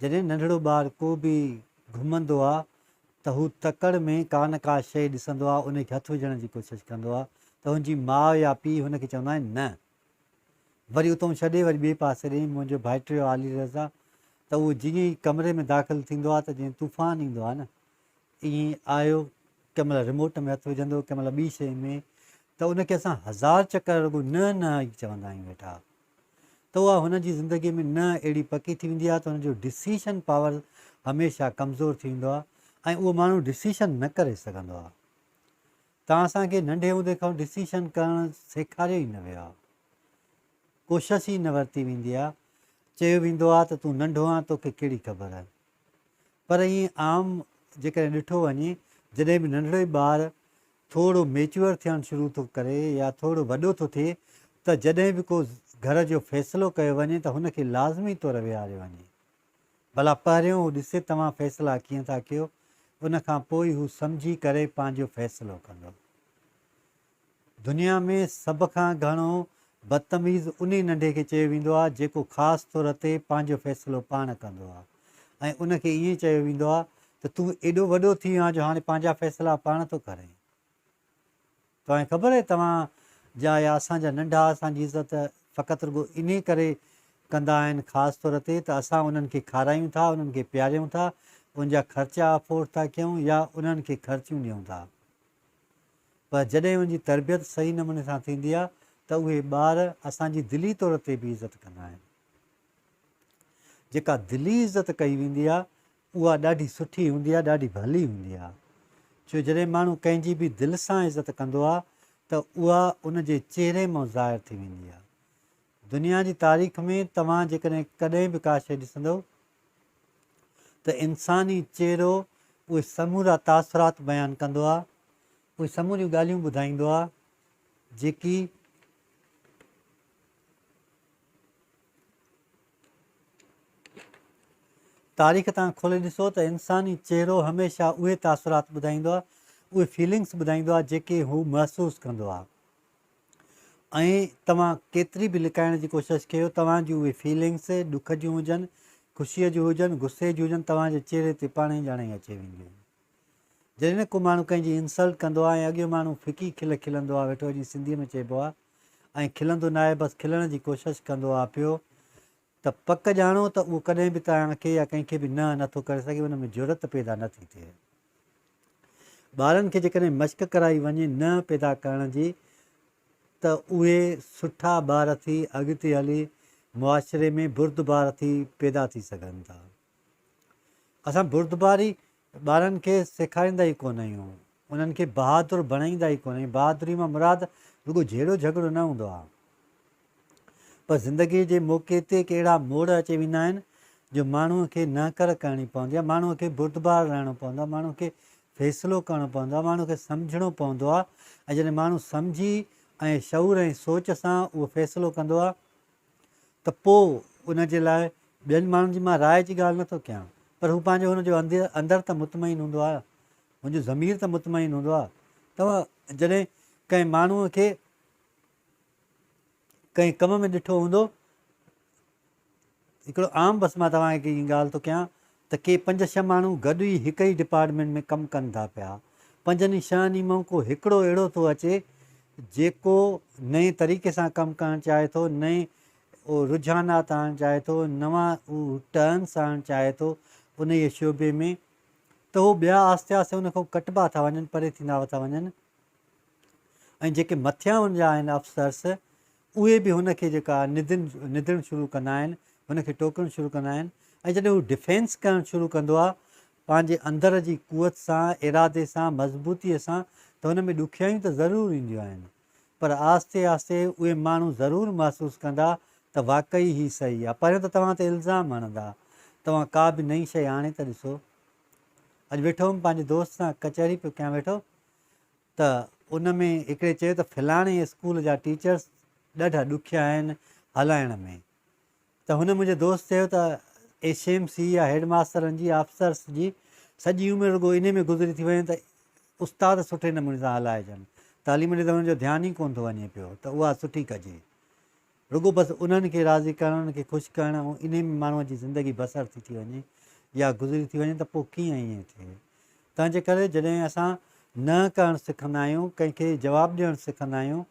جڏهن ننڍڙو ٻار ڪو به گهمندو آ ته هو تڪڙ ۾ ڪا نه ڪا شيء ڏسندو آ ان کي هٿ وجهڻ جي ڪوشش ڪندو آ ته هن جي ماء يا پيء هن کي چوندا آهن نه وري اتئون ڇڏي وري ٻئي پاسي ڏي منهنجو ڀائٽيو عالي رضا ته اهو جيئن ئي ڪمري ۾ داخل ٿيندو آ ته جيئن طوفان ايندو آ نه ائين آيو ڪنهن مهل ريموٽ ۾ هٿ وجهندو ڪنهن مهل ٻي شيء ۾ ته ان کي اسان هزار چڪر رڳو نه نه ئي چوندا آهيون ويٺا ته اها هن جي زندگي ۾ نه اهڙي پڪي ٿي ويندي آهي ته هن جو ڊسيشن پاور هميشه ڪمزور ٿي ويندو آهي ۽ اهو ماڻهو ڊسيشن نه ڪري سگهندو آهي. توهان اسان کي ننڍي هوندي کان ڊسيشن ڪرڻ سيکاريو ئي نه ويو آهي. ڪوشش ئي نه ورتي ويندي آهي. چيو ويندو آهي ته تون ننڍو آهين توکي ڪهڙي خبر آهي. پر ائين عام جيڪڏهن ڏٺو وڃي جڏهن به ننڍڙو ئي ٻار ٿورڙو ميچوئر ٿيڻ شروع ٿو ڪري يا ٿورڙو وڏو ٿو ٿئي ته جڏهن به ڪو گهر جو فيصلو ڪيو وڃي ته هن کي لازمي طور ويهاريو وڃي ڀلا پهريون هو ڏسي توهان فيصلا ڪيئن ٿا ڪيو ان کان پوء ئي هو سمجهي ڪري پنهنجو فيصلو ڪندو. دنيا ۾ سڀ کان گهڻو بدتميز انهي ننڍي کي چيو ويندو آهي جيڪو خاص طور تي پنهنجو فيصلو پاڻ ڪندو آهي. ۽ ان کي ائين چيو ويندو آهي ته تون ايڏو وڏو ٿي ويو آهين جو هاڻي پنهنجا فيصلا پاڻ ٿو ڪرين. توهان کي خبر آهي توهان جا يا اسان جا ننڍا اسان جي عزت فقط رڳو انهي ڪري ڪندا آهن خاص طور تي ته اسان انهن کي کارايون ٿا، انهن کي پياريون ٿا، ان جا خرچا افورڊ ٿا ڪيون يا انهن کي خرچيون ڏيون ٿا. پر جڏهن ان جي تربيت صحيح نموني سان ٿيندي آهي ته اهي ٻار اسان جي دلي طور تي به عزت ڪندا آهن. جيڪا دلي عزت ڪئي ويندي آ اها ڏاڍي سٺي هوندي آ ڏاڍي ڀلي هوندي آ ڇو جڏهن ماڻهو ڪنهن جي به دل سان عزت ڪندو آ ته اها ان جي چهري مئن ظاهر ٿي ويندي آ دنيا جي تاريخ ۾ توهان جيڪڏهن ڪڏهن به ڪا شي ڏسندو ته انساني چهرو اهي سمورا تاثرات بيان ڪندو آ اهي سموريون ڳالهيون ٻڌائيندو آ جيڪي تاريخ تان کولي ڏسو ته انساني چهرو هميشه اهي تاثرات ٻڌائيندو آهي، اهي فيلنگس ٻڌائيندو آهي جيڪي هو محسوس ڪندو آهي ۽ توهان ڪيتري به لڪائڻ جي ڪوشش ڪيو توهان جون اهي فيلنگس ڏک جون هجن، خوشي جون هجن، غصي جون هجن توهان جي چهري تي پاڻهي ڄڻ ئي اچي وينديون. جڏهن ڪو ماڻهو ڪنهن جي انسلٽ ڪندو آهي ۽ اڳيون ماڻهو ڦڪي کل کلندو آهي ويٺو جيئن سنڌي ۾ چئبو آهي، ائين کلندو ناهي بس کلڻ جي ڪوشش ڪندو آ پيو ته پڪ ڄاڻو ته اهو ڪڏهن به توهان کي يا ڪنهن کي به نه نه ٿو ڪري سگهي ان ۾ جرئت پيدا نه ٿي ٿئي. ٻارن کي جيڪڏهن مشق ڪرائي وڃي نه پيدا ڪرڻ جي ته اهي سٺا ٻار ٿي اڳتي هلي معاشري ۾ بردبار ٿي پيدا ٿي سگهن ٿا. اسان بردباري ٻارن کي سيکاريندا ئي ڪونه آهيون، انهن کي بهادر بڻائيندا ئي ڪونه آهيون، بهادري مان مراد رڳو جهيڙو جهڳڙو نه هوندو آهي پر زندگيء جي موقعي تي ڪي اهڙا موڙ اچي ويندا آهن جو ماڻهوء کي نهڪر ڪرڻي پوندي آهي، ماڻهوء کي بردبار رهڻو پوندو آهي، ماڻهوء کي فيصلو ڪرڻو پوندو آهي، ماڻهوء کي سمجهڻو پوندو آهي ۽ جڏهن ماڻهو سمجهي ۽ شعور ۽ سوچ سان اهو فيصلو ڪندو آهي، ته پوء ان جي لاء ٻين ماڻهن جي مان راء جي ڳالهه نه ٿو ڪيان، پر هو پنهنجي هن جو اندر ته مطمئن هوندو آهي، هن جو ضمير ته مطمئن هوندو آهي. توهان جڏهن ڪنهن ماڻهوء کي ڪنهن ڪم ۾ ڏٺو هوندو، هڪڙو عام بس مان توهان کي هي ڳالهه ٿو ڪيان، ته ڪي پنج ڇهه ماڻهو گڏ ئي هڪ ئي ڊپارٽمينٽ ۾ ڪم ڪن ٿا پيا. پنجن ئي ڇهن ئي مان ڪو هڪڙو اهڙو ٿو اچي جيڪو نئين طريقي سان ڪم ڪرڻ چاهي ٿو، نئين رجحانات آڻڻ چاهي ٿو، نوان ٽرنس آڻڻ چاهي ٿو انهيء شعبي ۾ ته هو ٻيا آهستي آهستي ان کان ڪٽبا ٿا وڃن، پري ٿيندا ٿا وڃن ۽ جيڪي مٿيان ان جا آهن افسرس، اهي به هن کي جيڪا ندن ندڻ شروع ڪندا آهن هن کي ٽوڪڻ شروع ڪندا آهن ۽ جڏهن هو ڊفينس ڪرڻ شروع ڪندو آهي پنهنجي اندر جي قوت سان ارادي سان مضبوطي سان ته هن ۾ ڏکيائيون ته ضرور اينديون آهن پر آهستي آهستي اهي ماڻهو ضرور محسوس ڪندا ته واقعي هي صحيح آهي پهريون ته توهان تي الزام هڻندا توهان ڪا به نئين شئي آڻي ته ڏسو اڄ ويٺو هوم پنهنجي دوست سان ڪچهري پيو ڪيان ويٺو ته ان ۾ هڪڙي چيو ته فلاڻي اسڪول جا ٽيچرس ڏاڍا ڏکيا آهن هلائڻ ۾ ته هن منهنجي دوست چيو ته ايس ايم سي يا هيڊ ماسترن جي آفسرس جي سڄي عمر رڳو انهي ۾ گذري ٿي وڃي ته استاد سٺي نموني سان هلائجن تعليم ڏي ته هنن جو ڌيان ئي ڪونه ٿو وڃي پيو ته اها سٺي ڪجي. رڳو بس انهن کي راضي ڪرڻ، انهن کي خوش ڪرڻ ۽ انهي ۾ ماڻهوء جي زندگي بسر ٿي ٿي وڃي يا گذري ٿي وڃي ته پوء ڪيئن ائين ٿئي؟ تنهنجي ڪري جڏهن اسان نه ڪرڻ سکندا آهيون، ڪنهن کي جواب ڏيڻ سکندا آهيون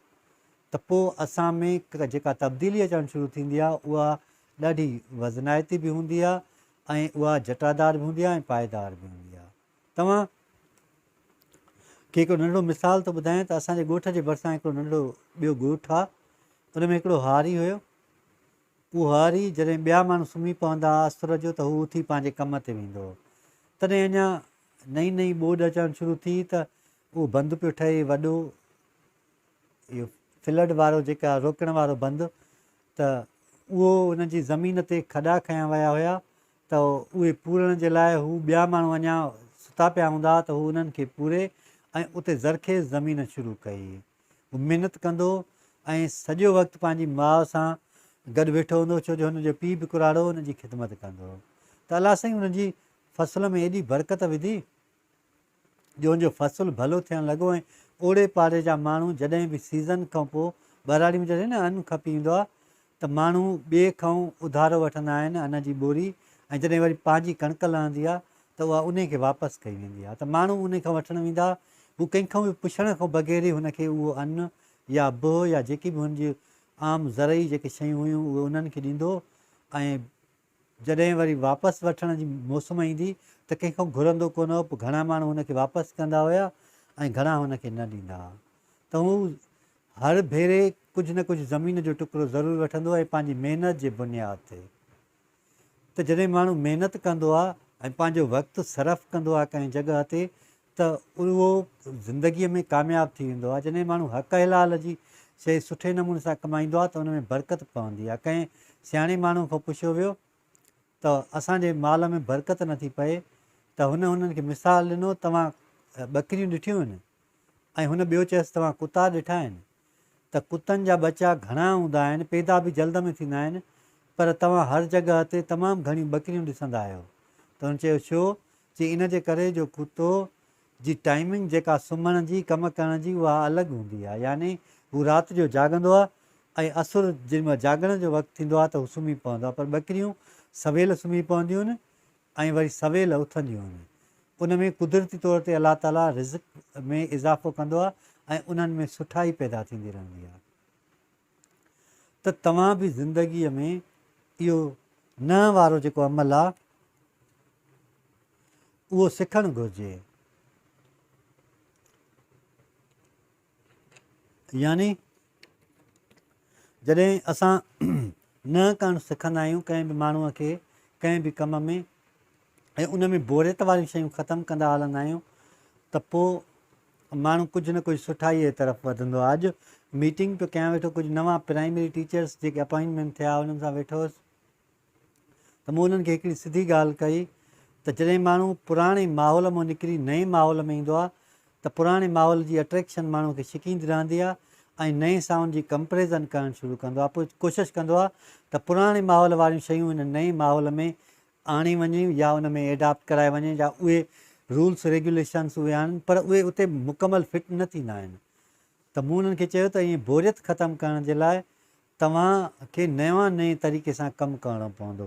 ته پوء اسان ۾ جيڪا تبديلي اچڻ شروع ٿيندي آهي اها ڏاڍي وزنائتي به هوندي آهي ۽ اها جٽادار به هوندي آهي ۽ پائيدار به هوندي آهي. توهان کي هڪڙو ننڍڙو مثال ٿو ٻڌايان ته اسان جي ڳوٺ جي ڀرسان هڪڙو ننڍڙو ٻيو ڳوٺ آ ان ۾ هڪڙو هاري هيو اهو هاري جڏهن ٻيا ماڻهو سمهي پوندا ها اسر جو ته هو اٿي پنهنجي ڪم تي ويندو هو تڏهن اڃا نئين نئين ٻوڏ اچڻ شروع ٿي ته اهو بند پيو ٺهي وڏو اهو فلڊ وارو جيڪا روڪڻ وارو بند ته اهو ان جي زمين تي کڏا کنيا ويا هيا ته اهي پورڻ جي لاء هو ٻيا ماڻهو اڃا ستا پيا هوندا ته هو انهن کي پوري ۽ اتي زرخيز زمين شروع ڪئي. هو محنت ڪندو ۽ سڄو وقت پنهنجي ماء سان گڏ ويٺو هوندو ڇو جو هن جو پيء به ڪراڙو هن جي خدمت ڪندو هو ته الله سائين هن جي فصل ۾ ايڏي برڪت وڌي جون جو فصل ڀلو ٿيڻ لڳو ۽ اوڙي پاڙي جا ماڻهو جڏهن به سيزن کان پوء ٻهراڙي ۾ جڏهن نه ان کپي ايندو آهي ته ماڻهو ٻئي کان اڌارو وٺندا آهن ان جي ٻوري ۽ جڏهن وري پنهنجي ڪڻڪ لهندي آهي ته اها انهي کي واپس ڪئي ويندي آهي ته ماڻهو انهي کان وٺڻ ويندا هو ڪنهن کان به پڇڻ کان بغير ئي هن کي اهو ان يا بهه يا جيڪي به هن جي عام زرعي جيڪي شيون هيون اهي انهن کي ڏيندو هو ۽ جڏهن وري واپس وٺڻ جي موسم ايندي ته ڪنهن کان گهرندو ڪونه هو پر گهڻا ماڻهو هن کي واپس ڪندا هيا ۽ گهڻا هن کي نه ڏيندا ها ته هو هر ڀيري ڪجهه نه ڪجهه زمين جو ٽڪرو ضرور وٺندو هو ۽ پنهنجي محنت جي بنياد تي ته جڏهن ماڻهو محنت ڪندو ها ۽ پنهنجو وقت صرف ڪندو ها ڪنهن جڳهه تي ته اهو زندگيء ۾ ڪامياب ٿي ويندو آهي. جڏهن ماڻهو حق حلال جي شيء سٺي نموني سان ڪمائيندو آهي ته ان ۾ برڪت پوندي آهي. ڪنهن سياڻي ماڻهوء کان پڇيو ويو ته اسان جي مال ۾ برڪت نه ٿي پئي ته هن انهن کي مثال ڏنو توهان ٻڪريون ڏٺيون آهن؟ ۽ هن ٻيو چيس توهان ڪتا ڏٺا آهن؟ ته ڪتن جا ٻچا گهڻا هوندا آهن، پيدا به جلد ۾ ٿيندا آهن، پر توهان هر جڳهه تي تمام گهڻيون ٻڪريون ڏسندا آهيو. ته هن چيو ڇو؟ چي ان جي ڪري جو ڪتو جي ٽائمنگ جيڪا سمهڻ جي، ڪم ڪرڻ جي اها الڳ هوندي آهي، يعني هو رات جو جاڳندو آهي ۽ اسر جيڏمهل جاڳڻ جو وقت ٿيندو آهي ته هو سمهي پوندو آهي، پر ٻڪريون سويل سمهي پونديون آهن ۽ وري سويل اٿنديون آهن. ان ۾ قدرتي طور تي الله تعالي رزق ۾ اضافو ڪندو آهي ۽ انهن ۾ سٺائي پيدا ٿيندي رهندي آهي ته توهان به زندگيء ۾ اهو نهن وارو جيڪو عمل آهي اهو سکڻ گهرجي. يعني جڏهن اسان نئن ڪن سکندا آهيون ڪنهن به ماڻهو کي ڪنهن به ڪم ۾ ۽ ان ۾ بوريت واريون شيون ختم ڪندا هلندا آهيون ته پوء ماڻهو ڪجهه نه ڪجهه سٺائي جي طرف وڌندو آهي اڄ ميٽنگ پيو ڪيان ويٺو ڪجهه نوان پرائمري ٽيچرس جيڪي اپوائنٽمينٽ ٿيا انهن سان ويٺو هوس ته مون انهن کي هڪڙي سڌي ڳالهه ڪئي ته جڏهن ماڻهو پراڻي ماحول مان نڪري نئين ماحول ۾ ايندو آهي ته پراڻي ماحول جي اٽريڪشن ماڻهو کي ڇڪيندي رهندي آهي ۽ نئين سان ان جي ڪمپريزن ڪرڻ شروع ڪندو آهي پوء ڪوشش ڪندو آهي ته پراڻي ماحول واريون شيون هن نئين ماحول ۾ آڻي وڃين يا ان ۾ ايڊاپٽ ڪرائي وڃين يا اهي رولس ريگيوليشنس اهي آڻن پر اهي اتي مڪمل فٽ نه ٿيندا آهن ته مون انهن کي چيو ته ائين بوريت ختم ڪرڻ جي لاء توهان کي نيوان نئين طريقي سان ڪم ڪرڻو پوندو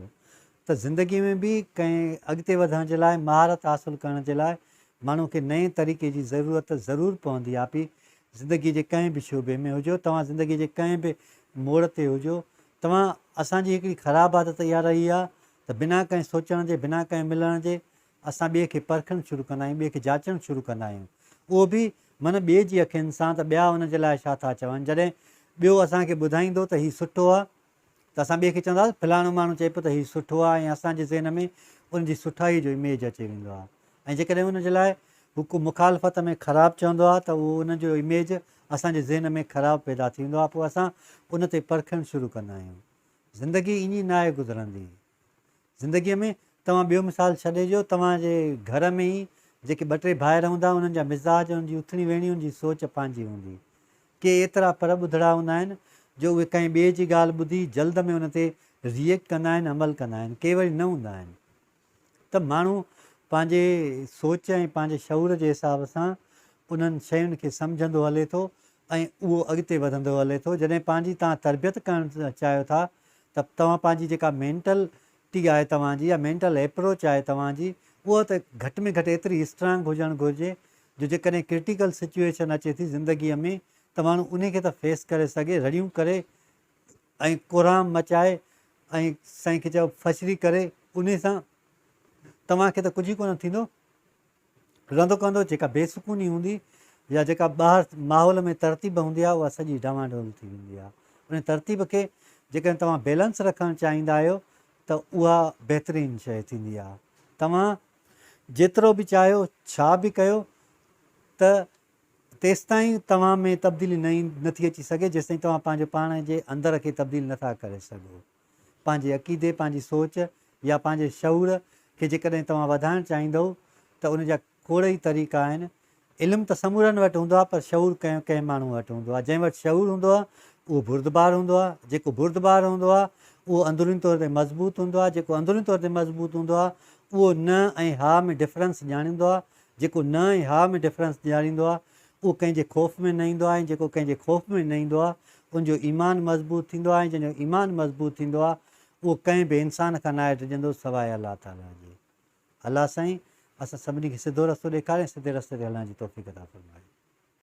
ته زندگي ۾ به ڪنهن اڳتي وڌڻ جي لاء مهارت حاصل ڪرڻ جي لاء ماڻهو کي نئين طريقي جي ضرورت ضرور پوندي آپي زندگي جي ڪنهن به شعبي ۾ هجو توهان زندگي جي ڪنهن به موڙ تي هجو توهان اسان جي هڪڙي خراب عادت اها رهي آهي ته بنا ڪنهن سوچڻ جي بنا ڪنهن ملڻ جي اسان ٻئي کي پرکڻ شروع ڪندا آهيون، ٻئي کي جاچڻ شروع ڪندا آهيون. اهو به من ٻئي جي اکين سان ته ٻيا ان جي لاء ڇا ٿا چون. جڏهن ٻيو اسان کي ٻڌائيندو ته هي سٺو آهي ته اسان ٻئي کي چونداسين فلاڻو ماڻهو چئي پيو ته هي سٺو آهي ۽ اسان جي ذهن ۾ ان جي سٺائي جو اميج اچي ويندو آهي ۽ جيڪڏهن ان جي لاء هو ڪو مخالفت ۾ خراب چوندو آهي ته اهو ان جو اميج اسان جي ذهن ۾ خراب پيدا ٿيندو آهي پوء اسان ان تي پرکڻ شروع ڪندا آهيون. زندگي ائين ناهي گذرندي. زندگيء ۾ توهان ٻيو مثال ڇڏي ڏيو، توهان جي گهر ۾ ئي جيڪي ٻه ٽي ڀائر هوندا، انهن جا مزاج، انهن جي اٿڻي ويهڻي، انهن جي سوچ پنهنجي هوندي. ڪي ايترا پر ٻڌڙا هوندا آهن، جو اهي ڪنهن ٻئي جي ڳالهه ٻڌي جلد ۾ ان تي React ڪندا آهن، عمل ڪندا آهن. ڪي وري نه هوندا آهن. ته ماڻهو پنهنجي سوچ ۽ پنهنجي شعور جي حساب سان انهن شين کي سمجهندو هلي ٿو ۽ اهو اڳتي وڌندو هلي ٿو. جڏهن پنهنجي توهان تربيت ڪرڻ چاهيو ٿا ته توهان پنهنجي جيڪا مينٽل ٽي آهي توهان جي يا مينٽل ايپروچ آهي توهان جي اها ته گهٽ ۾ گهٽ ايتري اسٽرانگ هجڻ گهرجي جو جيڪڏهن ڪرٽيڪل سچوئيشن اچي ٿي زندگي ۾ ته ماڻهو انهي کي ته فيس ڪري سگهي رڙيون ڪري ۽ ڪوهرام مچائي ۽ سائين کي چئبو فشري ڪري انهي سان توهان کي ته ڪجهه ئي ڪونه ٿيندو رندو ڪندو، جيڪا بي سڪوني هوندي يا جيڪا ٻاهر ماحول ۾ ترتيب هوندي آهي اها سڄي ڊانوا ڊول ٿي ويندي آهي ان ترتيب کي جيڪڏهن توهان بيلنس رکڻ چاهيندا آهيو ته اها بهترين شيء ٿيندي آهي توهان جيترو به چاهيو ڇا به ڪيو ته تيستائين توهان ۾ تبديلي نه نٿي اچي سگهي جيستائين توهان پنهنجو پاڻ جي اندر کي تبديل نٿا ڪري سگهو پنهنجي عقيدي، پنهنجي سوچ يا پنهنجي شعور کي جيڪڏهن توهان وڌائڻ چاهيندؤ ته ان جا کوڙ ئي طريقا آهن. علم ته سمورن وٽ هوندو آهي پر شعور ڪنهن ڪنهن ماڻهو وٽ هوندو آهي. جنهن وٽ شعور هوندو آهي اهو بردبار هوندو آهي. جيڪو بردبار هوندو آهي اهو اندروني طور تي مضبوط هوندو آهي. جيڪو اندروني طور تي مضبوط هوندو آهي اهو نه ۽ ها ۾ ڊفرنس ڄاڻيندو آهي. جيڪو نه ۽ ها ۾ ڊفرنس ڄاڻيندو آهي اهو ڪنهن جي خوف ۾ نه ايندو آهي ۽ جيڪو ڪنهن جي خوف ۾ نه ايندو آهي ان جو ايمان مضبوط ٿيندو آهي ۽ جنهن جو ايمان مضبوط ٿيندو آهي اهو ڪنهن به انسان کان ناهي ڊڄندو سواء الله تعاليٰ جي. الله سائين اسان سڀني کي سڌو رستو ڏيکاري ۽ سڌي رستي تي هلڻ جي توفيق عطا فرمائي.